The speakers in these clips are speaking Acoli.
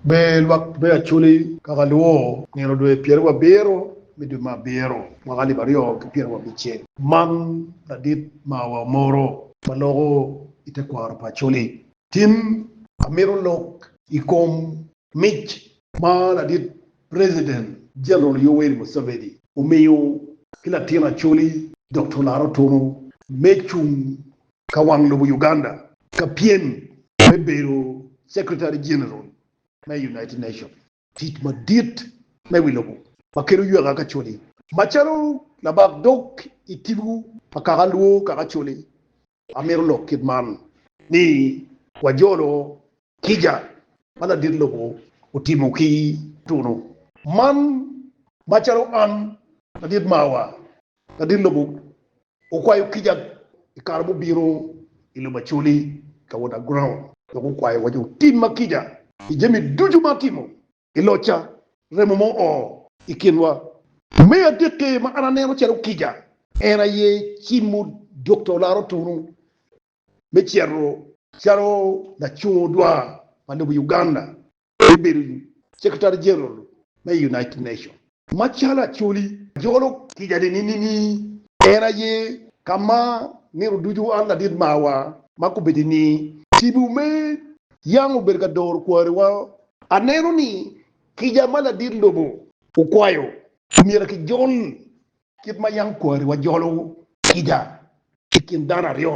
Me lwak me Acoli ka ka lwo nino dwe pyeri wa biro me dwe me abiro mwaka alip aryo ki pyeri wa bicel. Man ladit ma wa moro ma loko i te kwaro pa Acoli. Tim amito lok i kom mic ma ladit President General Yoweri Museveni omiyo ki latin Acoli Doctor Laro Tunu me cung ka wang lobo Uganda ka pyem me bedo Secretary General me United Nation. Tic madit me wi lobo ma kelo yweka ka coli macalo labak dog i tibu pa kaka luo kaka coli amito lok kit man ni wajolo kica ma ladit lobo otimo ki tunu man macalo an ladit mawa Ladit lobo okwayo kica i kare mubino i lobo Acoli ka wot Aground dok okwayo waco otimma kica i jami ducu ma atimo i locca. Remo mo oo i kinwa. Me adekke ma an aneno calo kica en aye cimo Dokta Olaro Tunu me cito calo lacung odwar pa lobo Uganda me bedo Secretary General me United Nation. Macalo Acholi jolo kica nining ni en aye ka ma nino ducu an ladit marwa ma kubeddi ni tipo me yam obedo ka doro kwariwa, aneno ni kica ma ladit lobo okwayo omyero kijol Kit ma yam kwariwa jolo kica i kin dano aryo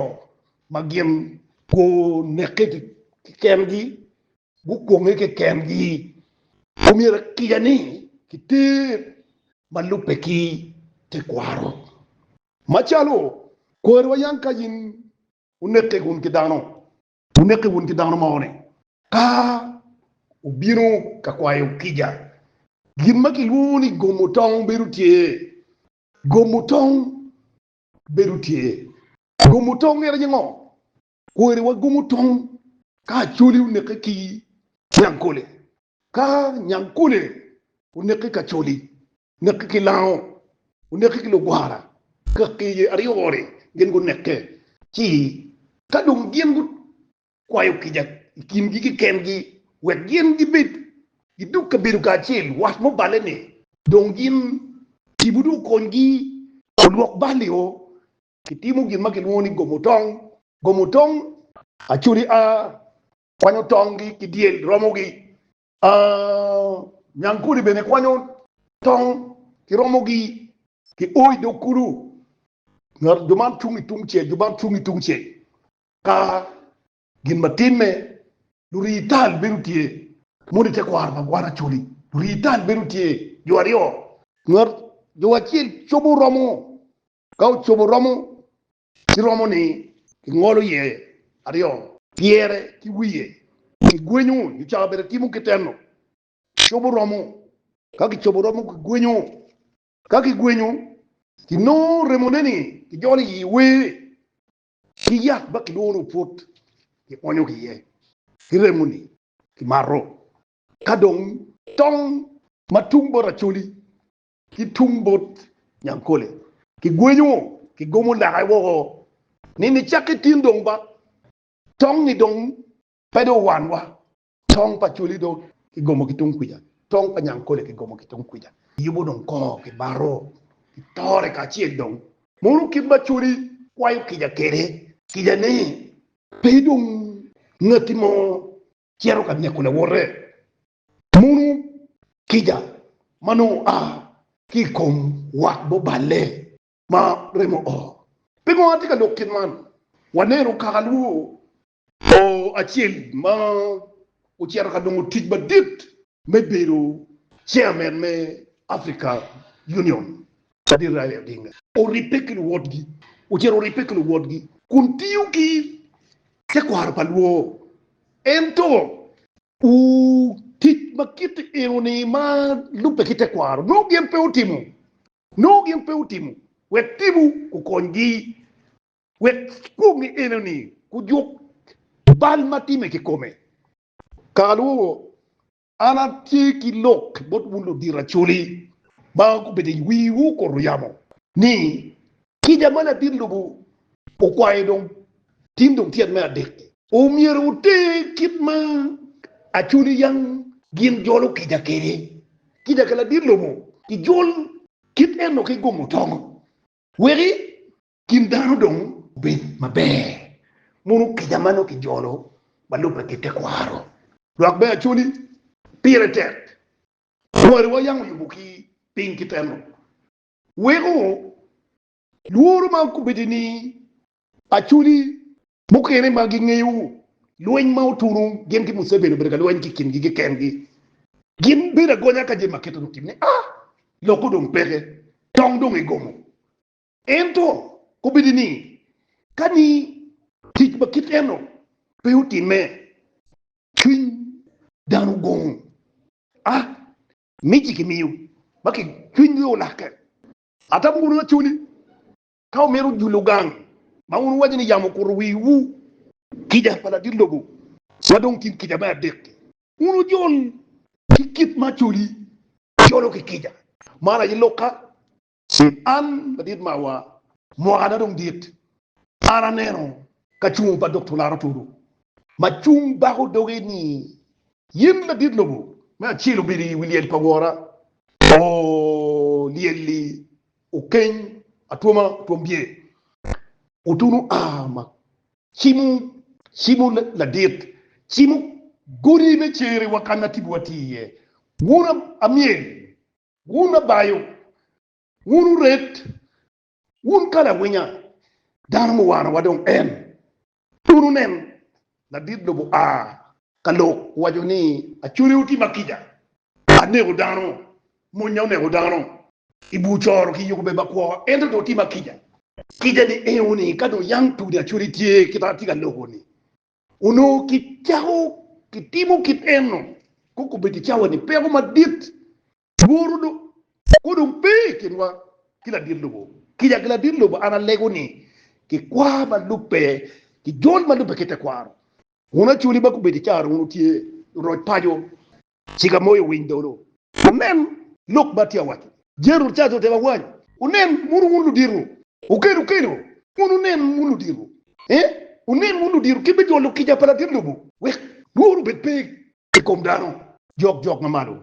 ma gin gunekke kekengi, gukwonge kekengi, omyero kica-ni kiter ma lubbe ki tekwaro. Macalo kwariwa yam ka in wunekke gin ki dano, Wunekke wun ki dano moni. Ka wubino ka kwayo kica, gin ma kilwongo ni gomo tong bedo tye. Gomo tong bedo tye. Gomo tong en aye ngo? Kweri wagomo tong ka Acholi onekke ki Nyankole. Ka Nyankole onekke ki Acholi, Nekki ki lango, wunekki ki lugwara, kaki i aryo-ni gin gunekke. Ci ka dong gin gukwayo kica i kingi keken-gi wek gin gibed gidug kabedo kacel, wat mo balle ni dong gin tipo dong okonygi olwok bal-lio, kitimo gin ma kilwongo ni gomo tong. Gomo tong, Acoli a kwanyo tong-gi ki dyel romogi, Aah nyang kodi bene kwanyo tong kiromo gi ki o i dog kulu ngat jo man cung i tung cel jo man cung i tung cel ka gin ma tin me lurii tal bedo tye moni te kwaro pa gwan acholi lurii tal bedo tye jo aryo ngat jo acel cobo romo ka ocobo romo ci romo ni kingolo iye aryo. Pyere ki wiye kigwenyo nyo cawa bene timo kiteno cobo romo. Ka kicobo romo kigwenyo. Ka kigwenyo kinongo remone ni kijolo i yi wer ki yat ma kilwongo ni opwot kionyo ki iye ki remo ni kimato. Ka dong tong ma tung bot Acholi ki tung bot Nyankole. Kigwenyo, kigomo lake woko ni nicakke tin dong ba tong-ngi dong pe dong wanwa. Tong pa Coli dong kigomo ki tung kwica, tong pa Nyankole kigomo ki tung kwica. Yubu dong kongo ki baro, ki tore kacel dong. Munu kit ma Coli kwayo kica kwede, kica ni pe dong ngati mo cito ka neko lawote. Munu kica ma nongo oa ki i kom wat mo balle ma remo oo? Pingo atye ka lok kit man? Waneno kaka lwor oo acel ma ocito ka nongo tic madit me bedo chairman me Africa Union Sadit Raila Odinga oribbe ki luwotgi, ocito oribbe ki luwotgi kun tiyo ki tekwaro pa lwor. Ento Ooh, tic ma kit enoni ma lubbe ki tekwaro nongo gin pe otimo, nongo gin pe otimo, wek tibu kukonygi wek pwonye enoni gujuk bal ma time kikome. Kaka lwogo, an atye ki lok bot wun ludito Acholi ma gubedo i wiwu kor oyamo ni Kica ma latin lobo okwayo dong tin dong tyet me adek. Omyero wuter kit ma acoli yam gin jolo kica kwede. Kica ka latin lobo kijol kit eno ki gomo tongo, weki kin dano dong obed maber. Mono kica ma nongo kijolo ma lubbe ki tekwaro? Lwak me acoli pire tek. Kwariwa yam oyubo ki piny kit eno. weko lworo ma obedo ni acholi mukene ma gingeyo lweny ma otuno gin ki Museveni obedo ka lweny ki kingi keken gi, gin bedo agonya ka jami makito ni otim ni ah loko dong peke tong dong egomo. Ento obedo ni kani tic ma kit eno pe otime cwiny dano gongo ah Mic-ci kimiyo ma kicwiny nyo lakke. Atamo wunu acoli ka wumito julo gang ma wun wuwaco ni yamo okuto wiwu. Kica pa ladit lobo ma dong tin kica me adek-ki. Wun wujol ki kit ma acoli jolo ki kica, man aye lok ka Ci an, ladit mawa, mwakana dong dit, an aneno ka cungo pa Doktor Laro Toro ma cung bako doge ni, Yin ladit lobo, me acel obedo i wi lyel pa wora, oo, lyel-li okeny atwoma twom bye, otunu a ma cimo, cimo ladit, cimo godi me cere wa kan atibowa tye iye, wun amyel Wun abayo, wun oret, wun kalawinya, dano muwano wa dong en. Wun wunen, ladit lobo a ka lok, waco ni, Acode oti ma kica, aneko dano, monya oneko dano i bur coro ki yuku bed ma kwo, ento dong oti ma kica. Kica ni eo ni ka dong yam tudi acode tye kita atye ka loko ni, Onongo kicako kitimo kit eno, kong kobed i cawa ni peko madit, lworo dong kong dong pe i kinwa ki ladit lobo. Kica ki ladit lobo an alego ni kikwar ma lubbe ki jol ma lubbe ki tekwaro. Wun acoli ma kobed i cawa dong wun wutye roc paco. Cika moyo winy dolo. Wunen lok ma atye ka waco. Jeri Rucato otemo awany. Wunen muno wun ludito. Okel okelo wun wunen wun ludito. Ee, wunen wun ludito kit me jolo kica pa latin lobo wek lworo obed pe i kom dano. Jok jok ma malo.